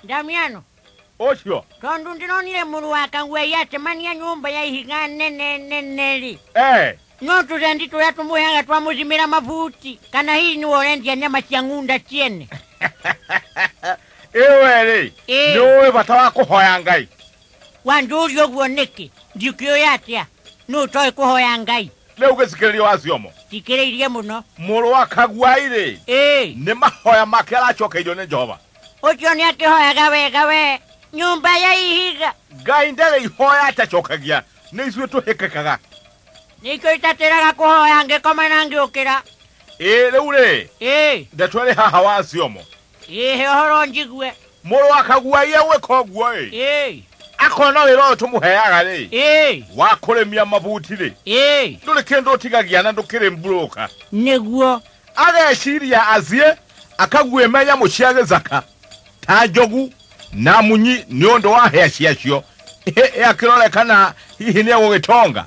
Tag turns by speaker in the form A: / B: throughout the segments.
A: Damiano, ũcio tondũ ndĩronire mũrũ wa kaguai acemania nyũmba ya ihiga nene nene-rĩ, eh, no tũrendi tũrĩa tũmũheaga twamũcimĩra mabuti kana hihi nĩwe ũrendia nyama cia ng'unda ciene ĩwe-rĩ Ĩĩ. nĩ ũĩ bata wa kũhoya ngai wanjũria ũguo nĩkĩ ndikĩũĩ atĩa nũ ũtoĩ kũhoya ngai rĩu gĩcikĩrĩria wa ciomo cikĩrĩirie mũno mũrũ wa kaguai-rĩ ĩĩ nĩ mahoya make aracokeirio nĩ jehova ũcio nĩ akĩhoyaga wega we nyũmba ya ihiga ngai ndarĩ ihoya atacokagia nĩ ithuĩ tũhĩkĩkaga nĩkĩo itatĩraga kũhoya ngĩkoma na ngĩũkĩra ĩĩ rĩu rĩ ĩĩ ndeto ĩrĩ haha wa ciongo ĩĩ he ũhoro njigue mũrũ wa kaguai egwĩka ũguo ĩ ĩĩ akona wĩra ũyũ tũmũheaga rĩ ĩĩ wa kũrĩmia mabuti rĩ ĩĩ ndũrĩ kĩndũ ũtigagia na ndũkĩrĩ mburũka nĩguo ageciria asie akaguĩmenya mũcia gĩthaka ta njogu na munyi nĩ ũndũ wa hĩa ciacio Ĩ- akĩrore kana hihi nĩ egũgĩtonga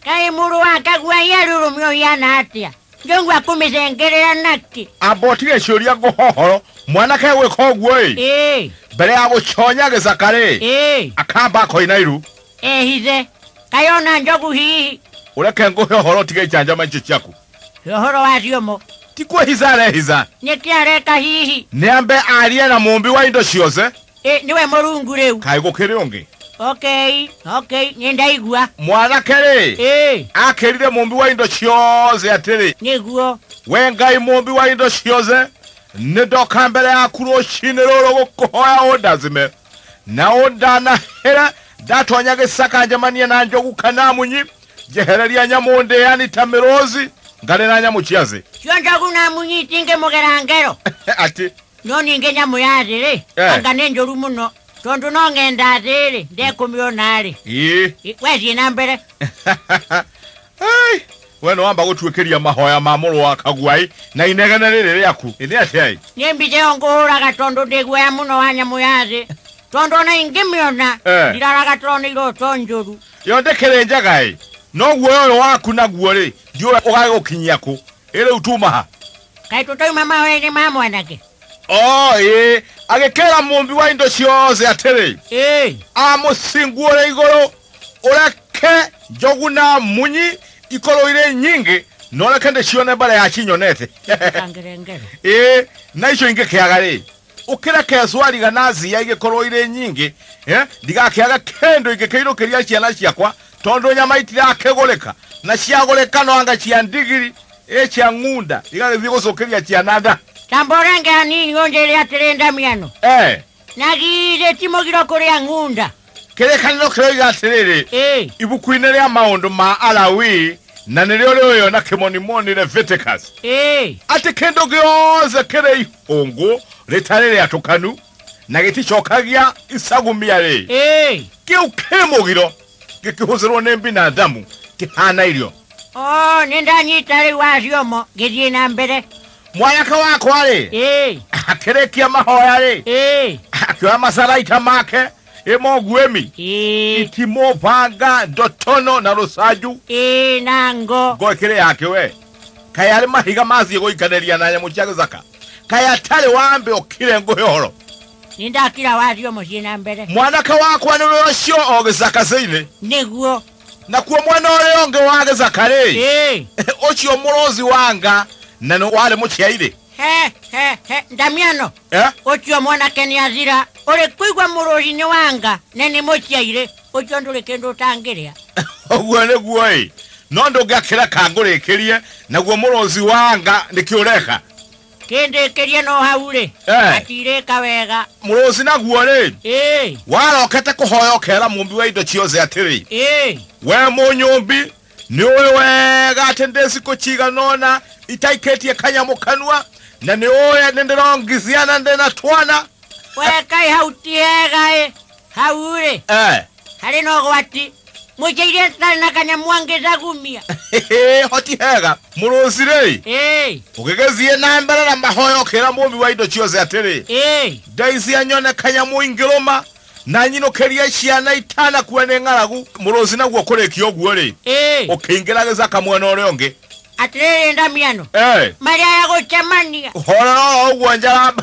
A: kaĩ mũrũ wa kagua yerurumio ũhiana atĩa njongua kũmĩcengerera nakĩ ambotige ciũria ngũhohoro mwanake gwĩka ũguo-ĩ ĩĩ mbere ya gũconya gĩthaka-rĩ ĩĩ akamba akoina iru ehithe kaĩ ona njogu hihi ũreke ngũhe ũhoro ũtige icanjama icio ciaku ũhoro wa ciũmũ ti kwĩhitha arehitha nĩ kĩ areka hihi nĩ ambe arie na mũmbi wa indo ciothe Ĩ, nĩwe mũrungu rĩu kaĩ gũkĩrĩ ũngĩ okay okay nĩ ndaigua mwanake rĩ ĩ akĩrire mũmbi wa indo ciothe atĩrĩ nĩguo we ngai mũmbi wa indo ciothe nĩ ndoka mbere yaku rũcinĩ rũrũ gũkũhoya ũndathime na ũndanahĩre ndatonya gĩcaka njemanie na njogu kana munyi njehereria nyamũ ndĩani ta mĩrũzi ngarĩ na nyamũ cia thĩ cio njogu na munyi itingĩmũgera ngero atĩ no ningĩ nyamũ ya thĩ-rĩ Eh. anga nĩ njũru mũno tondũ no ng'enda thĩ-rĩ ndekũmĩona-rĩ ii I- we thiĩ na mbere Ai, we nĩ wamba gũtuĩkĩria mahoya ma mũrũ wa kaguai na inegene rĩrĩ rĩaku nĩ atĩai nĩ mbica ĩyo ngũhũraga tondũ ndĩ guoya mũno wa nyamũ ya thĩ tondũ ona ingĩmĩona Eh. ndiraraga tondũ nĩ iroto njũru Ĩyo ndĩkĩrĩ njega-ĩ, no guoya ũyũ waku naguo-rĩ, ndiũĩ ũgagĩgũkinyia kũ. Ĩ rĩu tuuma ha? Kaĩ tũtoima mahoya-inĩ ma mwanake? Ooĩ. Agĩkĩĩra Mũũmbi wa indo ciothe atĩrĩ, Ĩĩ. Amũcinguũre igũrũ, ũreke njogu na munyi ikorwo irĩ nyingĩ, na ũreke ndĩcione mbere ya cinyonete. Citikangĩre ngero. Ĩĩ, na icio ingĩkĩaga-rĩ, ũkĩreke cwariga na cia igĩkorwo irĩ nyingĩ eh, ndigakĩaga kĩndũ ingĩkĩirũkĩria ciana ciakwa tondũ nyama itirakĩgũrĩka na ciagũrĩka no anga cia ndigiri ĩ cia ng'unda igagĩthiĩ gũcũkĩria ciana nda Ta mborenge hanini ũnjĩre atĩrĩ Ndamiano, eh, na githĩ ti mũgiro kũrĩa ng'unda? kĩrĩkanĩro kĩroiga atĩrĩrĩ Ĩĩ. ibuku-inĩ rĩa maũndũ ma alawi na nĩrĩo rĩoyo na kĩmonimoni leviticus Ĩĩ. atĩ kĩndũ gĩothe kĩrĩ ihũngũ rĩtarĩ rĩatũkanu na gĩticokagia icagumia rĩ Ĩĩ. kĩu kĩ mũgiro gĩkĩhũthĩrwo nĩ binadamu kĩhana irio O nĩ ndanyita rĩu acio mo ngĩthiĩ na mbere. mwayaka wakwa-rĩ ĩĩ akĩrĩkia mahoya-rĩ ĩĩ akĩoya macaraita make ĩmo nguĩmi ĩĩ itimũ banga ndotono na rũcanju ĩĩ na ngo ngo ĩkĩrĩ yake we kaĩ arĩ mahiga mathiĩ gũikanĩria na nyamũ cia gĩthaka kaĩ atarĩ wambe ũkire ngũhe ũhoro nĩ ndakira wario mũciĩ na mbere mwanake wakwa nĩwe ũcio o gĩcaka-inĩ nĩguo nakuo mwena ũrĩa ũngĩ wa gĩcakarĩ Ĩĩ. ũcio mũrũthi wanga na nĩ warĩ mũciairĩ He, he, he, ndamiano Eh? ũcio mwanake nĩ athira ũrĩ kũigua mũrũri nĩ wanga na nĩ mũciairĩ ũcio ndũrĩ kĩndũ ũtangĩrĩa ũguo nĩguo ĩ no ndũngĩakĩreka ngũrĩkĩrie naguo mũrũthi wanga nĩkĩ ũreka Kĩndĩkĩrie no hau-rĩ, Eh. atirĩka wega. Mũrũci naguo-rĩ, Ĩĩ, warokete kũhoya ũkera mũmbi wa indo ciothe atĩrĩ ĩĩ, we mũnyũmbi nĩ ũĩ wega atĩ ndĩ cikũ cigana ũna itaikĩtie kanyamũ kanua na nĩ ũĩ nĩ ndĩrongithia na ndĩ na twana we kaĩ hau ti hega-ĩ. Hau-rĩ, eh, harĩ na ũgwati mũikirie citarĩ na kanyamũ angĩcagumia hoti hega mũrũcirĩ Ĩĩ, ũgĩgĩthiĩ na mbere na mahoya ũkĩra mũmbi wa indo ciothe atĩrĩ ĩĩ, ngai cia nyone kanyamũ ingĩrũma na nyinũkĩrie ciana itanakuwa nĩ ng'aragu mũrũci naguo kũrĩkia ũguo-rĩ ĩĩ. ũkĩingĩra gĩcaka mwena ũrĩa ũngĩ atĩrĩrĩ ndamiano Eh, marĩa ya gũcemania horera oro ũguo njaramba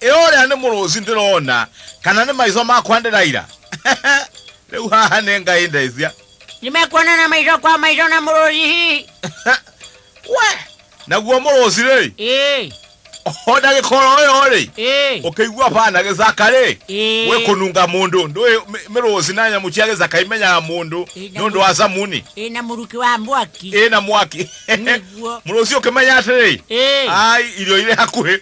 A: Ĩ ũrĩa nĩ mũrũci ndĩrona, kana nĩ maitho makwa ndĩraira? Rĩu haha nĩ Ngai ndecia. Nĩmekuonana maitho kwa maitho na mũrũci hihi? We, naguo mũrũci-rĩ, Ĩĩ, o ndagĩka oro ĩyo-rĩ, ĩĩ, ũkĩigua baa na gĩcaka rĩ Ĩĩ. gwĩ kũnunga mũndũ ndũĩ mĩ- mĩrũci na nyamũ cia gĩcaka imenyaga mũndũ Ĩĩ, na nĩ ũndũ wa camuni ĩĩ na mũrukĩ wa mwaki. ĩ na mwaki Nĩguo. mũrũci ũkĩmenya atĩrĩ Ĩĩ. ai irio irĩ hakuhĩ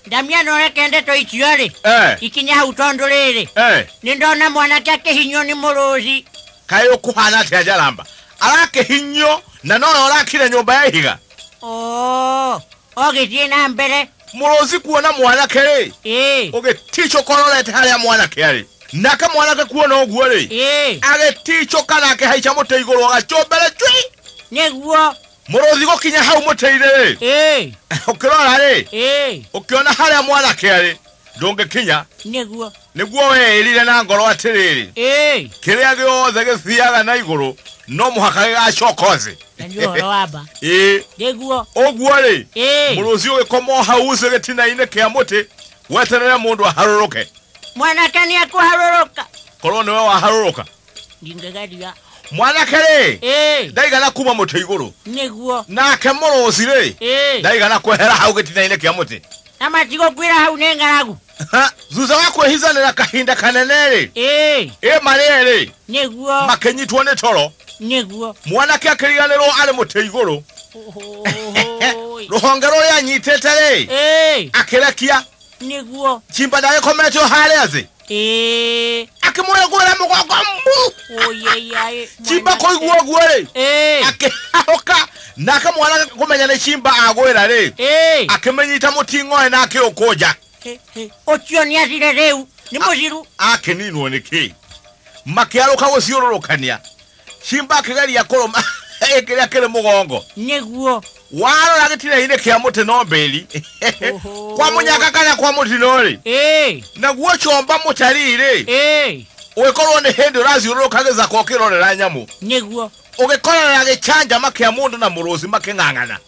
A: ndamia no reke ndeto icio rĩ Eh, ikinye hau tondũ rĩrĩ eh. nĩ ndona mwanake akĩhinywo nĩ mũrũthi kaä å kå hana atä a njaramba arakä hinyio na nora å rakire nyå mba ya ihiga oo ogĩthiĩ na mbere må rå ci kuona mwanake rä ĩĩ å gä ticå kororete harä a mwanake arä nake mwanake kuona å guo rä ĩĩ agä ticå kanake haica må tä igå rå agacå mbere cui nĩguo mũrũthi gũkinya hau mũtĩ-inĩ-rĩ ĩĩ ũkĩrora-rĩ ĩĩ ũkĩona harĩa mwanake arĩ ndũngĩkinya nĩguo nĩguo weĩrire na ngoro atĩrĩrĩ ĩĩ kĩrĩa gĩothe gĩthiaga na igũrũ no mũhaka gĩgacoka thĩ na nĩ ũhoro wa mba ĩĩ nĩguo ũguo-rĩ ĩĩ mũrũthi ũgĩkoma o hau ucĩ gĩtina-inĩ kĩa mũtĩ weterere mũndũ aharũrũke mwanake nĩ ekũharũrũka korwo nĩwe waharũrũka ndingĩgeria mwanake rĩ Ĩĩ. ndaigana kuma mũtĩ igũrũ nĩguo nake mũrũci rĩ Ĩĩ. ndaigana kwehera hau gĩtina-inĩ kĩa mũtĩ na matigũkwĩra hau nĩ ng'aragu Ha, thutha wa kwĩhithanĩra kahinda kanene rĩ Ĩĩ. ĩ marĩ erĩ nĩguo makĩnyitwo nĩ toro nĩguo mwanake akĩriganĩrwo arĩ mũtĩ igũrũ Ũhũũĩ. rũhonge rũrĩa anyitĩte rĩ Ĩĩ. akĩrekia nĩguo chimba ndagĩkomete o harĩa thĩ Ĩĩ, akĩmũrĩ kũrĩa mũgongo mbu ũyeyai. chimba kũigua ũguo rĩ Ĩĩ, akĩhahũka nake mwana kũmenya nĩ chimba agwĩra rĩ ĩĩ. akĩmĩnyita mũting'oe na akĩũkũnja Ĩ, ĩ, Ũcio nĩ acire rĩu. Nĩ mũciru. akĩninwo nĩ kĩ makĩarũka gũciũrũrũkania Simba akĩgeria kũrũma ĩ kĩrĩa kĩrĩ mũgongo nĩguo warora gĩtina-inĩ kĩa mũtĩ no mbĩri Oho. kwa mũnyaka kana kwa mũtino-rĩ ĩĩ naguo comba mũtari-rĩ ĩĩ ũgĩkorwo nĩ hĩndĩ ũrathiũrũrũka gĩthaka ũkĩrorera nyamũ nĩguo ũgĩkorera gĩcanjama kĩa mũndũ na mũrũthi makĩng'ang'ana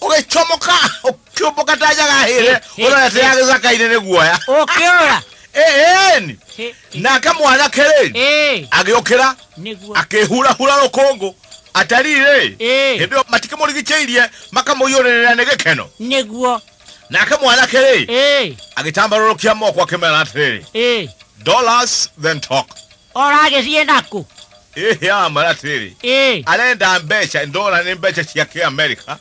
A: ũgĩcomoka ũkĩũmbũka ta njagahĩre ũrorete ya gĩcaka-inĩ nĩ guoya ũkĩũra ĩni Hĩ, nake mwanake rĩ ĩ, agĩũkĩra nĩguo akĩhurahura rũkũngũ atari rĩ Ĩ. hĩndĩ ĩyo matikĩmũrigicĩirie makamũiyũrĩrĩra nĩ gĩkeno nĩguo nake mwanake rĩ ĩ, agĩtambarũrũkia moko akĩmera atĩrĩrĩ ĩ, dollars then talk oragĩthiĩ nakũ ĩhĩ amara atĩrĩrĩ ĩ arenda mbeca ndora nĩ mbeca cia kĩ amerika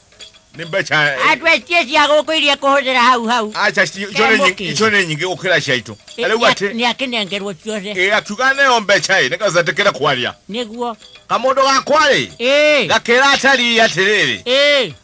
A: nĩ mbeca andũ aitie cia gũkũ iria kũhũthĩra hau hau aca icio nĩ nyingĩ- icio nĩ nyingĩ gũkĩra ciaitũ rĩu atĩ nĩ akĩnengerwo ciothe ĩ akiuga neo mbeca ĩ nĩgetha ndatĩkĩre kwaria nĩguo kamũndũ gakwa-rĩ ĩ gakĩra atari atĩrĩrĩ ĩ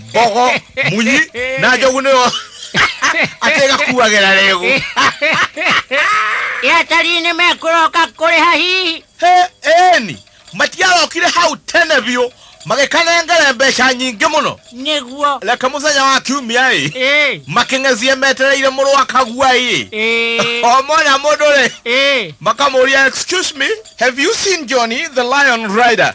A: mbogo munyi na njogu nĩyo atĩgakuagĩra rĩgu yatari nĩ mekũroka kũrĩha hihi eni matiarokire hau tene biũ magĩkanengere mbeca nyingĩ mũno nĩguo reke mũthenya wa kiumia ĩ Ĩ, makĩng'ezie metereire mũrũ wa kagua ĩ ĩ, o mwana mũndũ rĩ ĩ. makamũria excuse me have you seen johnny the lion rider